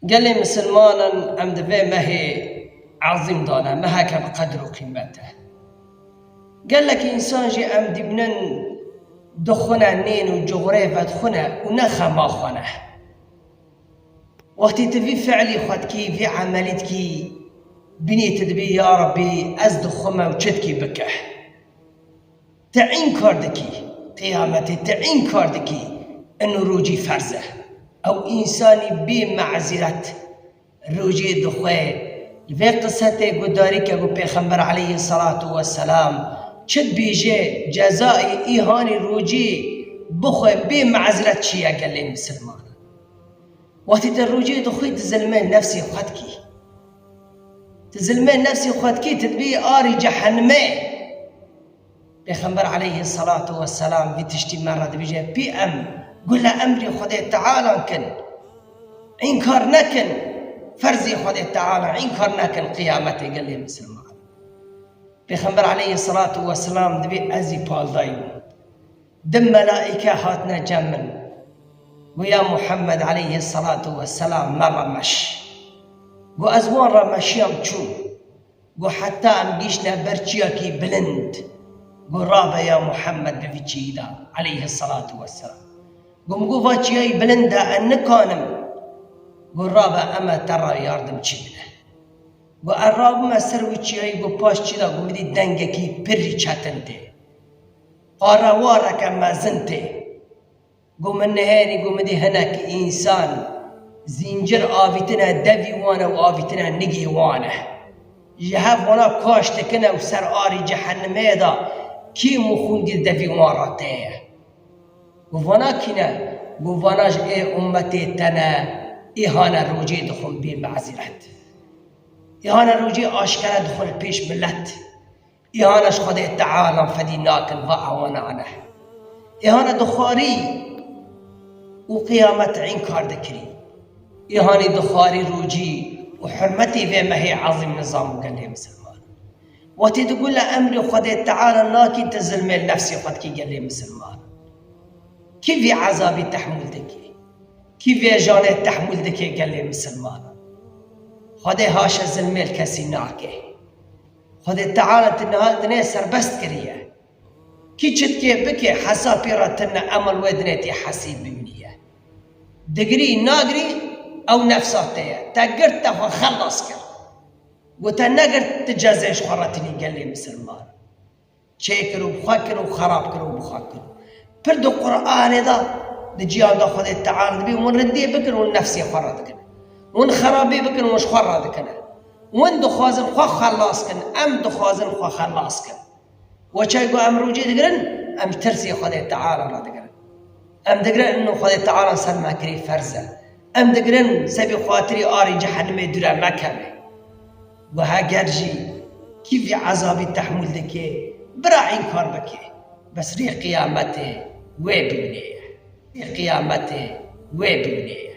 Gelê misilmanan em di vê mehê ezîm de ne, meheke bi qedir û qîmet e. Gelekî însan jî em dîbînin di xwe ne nêne û cuxurê vedxwe ne û ne xema xwe ne. Wextî tu vî fiilî xwe dikî, vî emelî dikî, bînî tu dibî ya Rebî ez di xwe me û çi dikî bike. Teîn kar dikî, qîyametê teîn kar dikî, ino rojî ferz e. Ew însanî bê me'zîret rojê di xwe li vê qisetê guhdarî ke ku Pêxember aleyhî selatu we selam çi dibêje, cezaê îhanî rojê bixwe bê me'zîret çi ye gelê misilmanan? Wextê te rojê di xwe di zilmê nefsê xwe dikî. Di zilmê nefsê xwe dikî, ti dibî arê cehenimê. Pêxember aleyhî selatû we selam vî tiştî me re dibîje, Pî em gule emrê Xwedê Tealan kin, înkar nekin, ferzê Xwedê Tealan înkar nekin qiyametê gelê misilman. Pêxember aleyhî selatû we selam dibê ez jî paldayî bûm. Di melaîke hatine cem min. Got ya Muhammed aleyhî selatû we selam me re meş. Got ez wan re meşiyam çûm. Got heta em gihîştine ber çiyakî bilind, got rabe ya Muhemmed bi vî çiyî de eleyhisselatû wesselam. Got min got va çiyayî bilind e ez nikanim. Got rabe eme te ra yardim çî bide. Got ez rabime ser wî çiyayî got paş çî de got min dît dengekî pirrî çetin tê. Qarewareke mezin tê. Ku min nihêrî ku midî hinek însan zîncir avîtine devî wan e û avîtine nigê wan e. Ji hev wana kaş dikin e û ser arî cehenimê de kîm û xûn di devî wan re tê ye. Ku vana kî ne, ku vana ji ê ummetê te ne, îhane rojê dixwin bê me'ziret. Îhane rojê aşkere dixwin pêş milet. Îhana ji Xwedê teala fedî nakin va awana aneh. Îhana di xwarî û qîyamet înkar dikirî. Îhanî di xwarî rûcî û hurmetî vê mehê ezîm nizam û gelê misilman. Wetî di gule emrê Xwedê teala nakî ti zilmê nefsê xwe dikî gelê misilman. Kî vî ezabî tehmûl dike? Kî vê janê tehmûl dike gelê misilmanan? Xwedê haşa zilmê li kesî nake. Xwedê Teala tu niha dinê serbest kiriye. Kî çitkê bike hesa pê ra tine emal wê dinê tê hesî bimîniye. Digirî nagirî ew nefsa te ye. Te girt te xwe xelas kir. Ku te negirt tu cezeyê ji xwe re tinî gelê misilman. Çê kir û bi xwe kir û xerab kir û bi xwe kir. Pir di Quranê de di cîhan de Xwedê Teala dibîn hûn rindî bikin hûn nefsê xwe radikin. Hûn xerabî bikin hûn ji xwe radikine. Hûn dixwazin xwe xelas kin, em dixwazin xwe xelas kin. Weçay ku em rûcê digirin em ji tirsê Xwedê Teala re digirin. Em digirin inû Xwedê Teala li ser me kirî ferz e. Em digirin sebî xatirî arê cehenimê dûre mekeve. Û heger jî kî vî ezabî tehmûl dike, bira înkar bike, bes rê qiyametê wê bimîne ye, rê qiyametê wê bimîne ye.